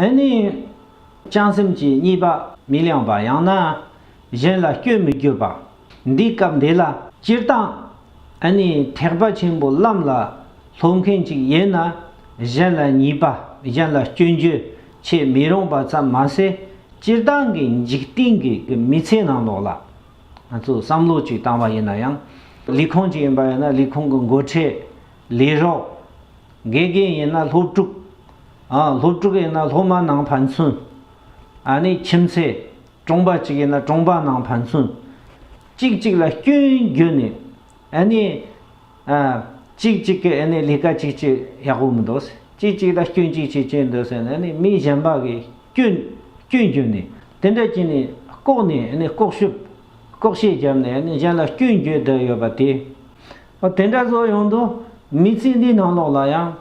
ཨེ་ནི། བྱང་སེམས་ཀྱི་གཉིས་པ་མི་ལངས་པ་ཡང་ན་གཞན་ལ་སྐྱོན་མི་བརྗོད་པ། འདི་སྐབས་འདི་ལ་སྤྱིར་བཏང་ཨེ་ནི་ཐེག་པ་ཆེན་པོ་ལམ་ལ་སློབ་མཁན་ཅིག་ཡིན་ན་གཞན་ལ་གཉིས་པ་གཞན་ལ་སྐྱོན་བརྗོད་བྱེད་མི་རུང་པ་ཙམ་མ་ཟད་སྤྱིར་བཏང་གི་འཇིག་རྟེན་གྱི་མི་ཚེའི་ནང་ལོགས་ལ་ང་ཚོས་བསམ་བློ་ཅིག་བཏང་བ་ཡིན་ན་ཡང། ལུས་ཁོང་ཅིག་ཡིན་པ་ཡིན་ན་ལུས་ཁོང་གི་མགོ་ཁྲིད་ལས་རོགས། དགེ་རྒན་ཡིན་ན་སློབ་ཕྲུག། སློབ་ཕྲུག་ཡིན་ན་སློབ་མ་ནང་ཕན་ཚུན། ནས་ཁྱིམ་མཚེས། གྲོང་པ་གཅིག་ཡིན་ན་གྲོང་པ་ནང་ཕན་ཚུན། གཅིག་གཅིག་ལ་སྐྱོན་བརྗོད་ནས། གཅིག་གཅིག་གི་ལས་ཀ་གཅིག་གཅིག་ཡག་པོ་མི་འདུག་ཟེར། གཅིག་གཅིག་ལ་སྐྱོན་གཅིག་གཅིག་བྱས་འདུག་ཟེར་ནས་མི་གཞན་པ་གི་སྐྱོན་སྐྱོན་བརྗོད་ནས། དེ་འདྲ་བྱས་ནས་ལྐོག་ནས་ལྐོག་ཤུབས་ལྐོག་བཤད་བརྒྱབ་ནས་གཞན་ལ་སྐྱོན་བརྗོད་བསྡད་ཡོད་པ་དེ། དེ་འདྲ་བཟོ་ཡོང་དུས་མི་ཚེ་འདིའི་ནང་ལོགས་ལ་ཡང་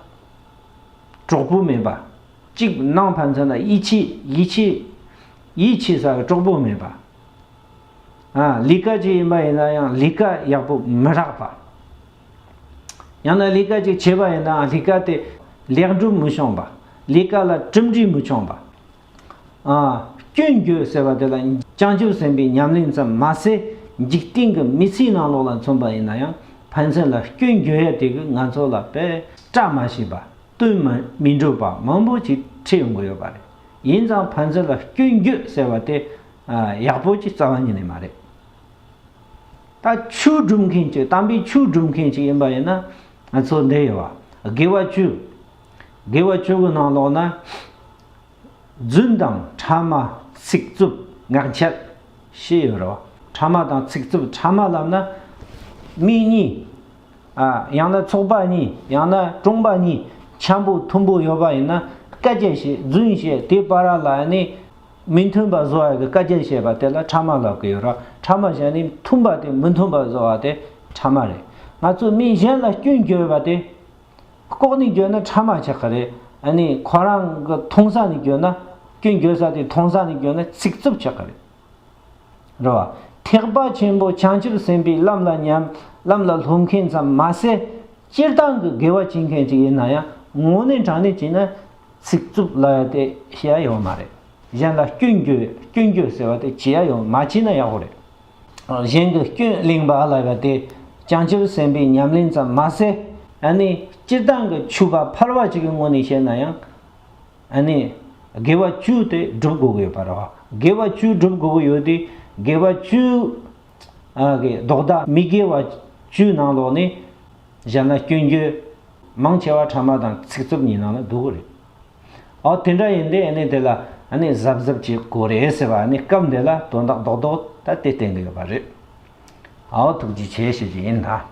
གྲོགས་པོ་མེད་པ། གཅིག་སྣང་ཕན་ཚུན་ལ་ཡིད་ཆེས་ཡིད་ཆེས་ཡིད་ཆེས་ས་བའི་གྲོགས་པོ་མེད་པ། ལས་ཀ་ཅིག་ཡིན་པ་ཡིན་ན་ཡང་ལས་ཀ་ཡག་པོ་མི་རག་པ། ཡང་ན་ལས་ཀ་ཅིག་བྱས་པ་ཡིན་ནའང་ལས་ཀ་དེ་ལེགས་འགྲུབ་མི་བྱུང་པ། ལས་ཀ་ལ་གྲུབ་འབྲས་མི་བྱུང་པ། སྐྱོན་བརྗོད་ཟེར་བ་དེ་ལ་བྱང་ཆུབ་སེམས་དཔའི་ཉམས་ལེན་ཙམ་མ་ཟད་འཇིག་རྟེན་གྱི་མི་ཚེའི་ནང་ལོགས་ལ་མཚོན་པ་ཡིན་ན་ཡང་ཕན་ཚུན་ལ་སྐྱོན་བརྗོད་ཡ་དེ་གིས་ང་ཚོ་ལ་པད་སྐྲ་མ་བྱིན་པ་བསྟུན་མ་མི་འགྲུབ་པ་མང་པོ་ཞིག་འཁྲིད་ཡོང་གི་ཡོད་པ་རེད། ཡིན་ཙང་ཕན་ཚུན་ལ་སྐྱོན་བརྗོད་ཟེར་བ་དེ་ཡག་པོ་ཅིག་རྩ་བ་ཉིད་ནས་མ་རེད། ད་ཆོས་སྒྲུབ་མཁན་གཅིག་དམ་པའི་ཆོས་སྒྲུབ་མཁན་ཞིག་ཡིན་པ་ཡིན་ན་ང་ཚོ་འདི་ཡོད་དགེ་བ་བཅུ་དགེ་བ་བཅུ་གི་ནང་ལོགས་ན། བརྫུན་དང་ཕྲ་མ་ཚིག་རྩུབ་ངག་འཁྱལ། ཞེས་ཡོད་རོ། ཕྲ་མ་དང་ཚིག་རྩུབ་ཕྲ་མ་ལབ་ན། མི་གཉིས། ཡང་ན་ཚོགས་པ་གཉིས་ཡང་ན་དཔུང་པ་གཉིས་འཁྱམས་པོ་ཐུམ་པོ་ཡོད་པ་ཡིན་ན་བཀའ་རྒྱ་བྱས་བརྫུན་བཤད་དེ་པ་ར་ལ་ནི། མི་མཐུན་པ་བཟོ་བ་གི་བཀའ་རྒྱ་བཤད་པ་དེ་ལ་ཕྲ་མ་ལབ་གི་ཡོད་རོ། ཕྲ་མ་བཤད་ནི་མཐུན་པ་དེ་མི་མཐུན་པ་བཟོ་བ་དེ་ཕྲ་མ་རེད། ང་ཚོས་མི་གཞན་ལ་སྐྱོན་བརྗོད་པ་དེ་ལྐོག་ནས་བསྐྱོད་ན་ཕྲ་མ་ཆགས་ཀྱི་རེད། ཨ་ནི་ཁོ་རང་གི་མཐོང་ས་ནས་བསྐྱོད་ན། སྐྱོན་བརྗོད་ས་དེ་མཐོང་ས་ནས་བསྐྱོད་ན་ཚིག་རྩུབ་ཆགས་ཀྱི་རེད། རེད་བ། ཐེག་པ་ཆེན་པོ་བྱང་ཆུབ་སེམས་དཔའི་ལམ་ལ་ཉམས། ལམ་ལ་ལྷུང་མཁན་ཙམ་མ་ཟད། སྤྱིར་བཏང་གི་དགེ་བ་བྱེད་མཁན་ཅིག་ཡིན་ན་ཡང་ངོ་ནས་དྲང་ནས་བྱས་ན། ཚིག་རྩུབ་ལ་ཡ་དེ་བྱེད་ཡ་ཡོད་མ་རེད། གཞན་ལ་སྐྱོན་བརྗོད་སྐྱོན་བརྗོད་ཟེར་བ་དེ་བྱེད་ཡ་ཡོད་མ་བྱས་ན་ཡག་པོ་རེད། གཞན་གྱི་སྐྱོན་གླེང་བ་ལ་བ་དེ་བྱང་ཆུབ་སེམས་དཔའི་ཉམས་ལེན་ཙམ་མ་ཟད་ཨ་ནི་སྤྱིར་བཏང་གི་ཆུ་བ་འཕར་བ་ཞིག་གི་ངོ་ནས་བཤད་ན་ཡང་ཨ་ནི་དགེ་བ་བཅུ་དེ་བསྒྲུབ་དགོས་ཀྱི་ཡོད་པ་རེད། དགེ་བ་བཅུ་བསྒྲུབ་དགོས་ཀྱི་ཡོད་དེ་དགེ་བ་བཅུ་གི་ལྡོག་ཟླ་མི་དགེ་བ་བཅུའི་ནང་ལོགས་ནས་བཞག་ན་སྐྱོན་བརྗོད་མང་ཆེ་བ་ཕྲ་མ་དང་ཚིག་རྩུབ་གཉིས་ནང་ལ་འདུ་གི་རེད། ཨོ་དེ་འདྲ་ཡིན་དེ་ནི་དེ་ལ་གཟབ་གཟབ་བྱེད་དགོས་རེད་ཟེར་བ་ནི་སྐབས་འདི་ལ་དོན་དག་རྡོག་རྡོག་ད་དེ་བསྟན་གྱི་ཡོད་པ་རེད། ཨོ་ཐུགས་རྗེ་ཆེ་ཞུ་རྒྱུ་ཡིན།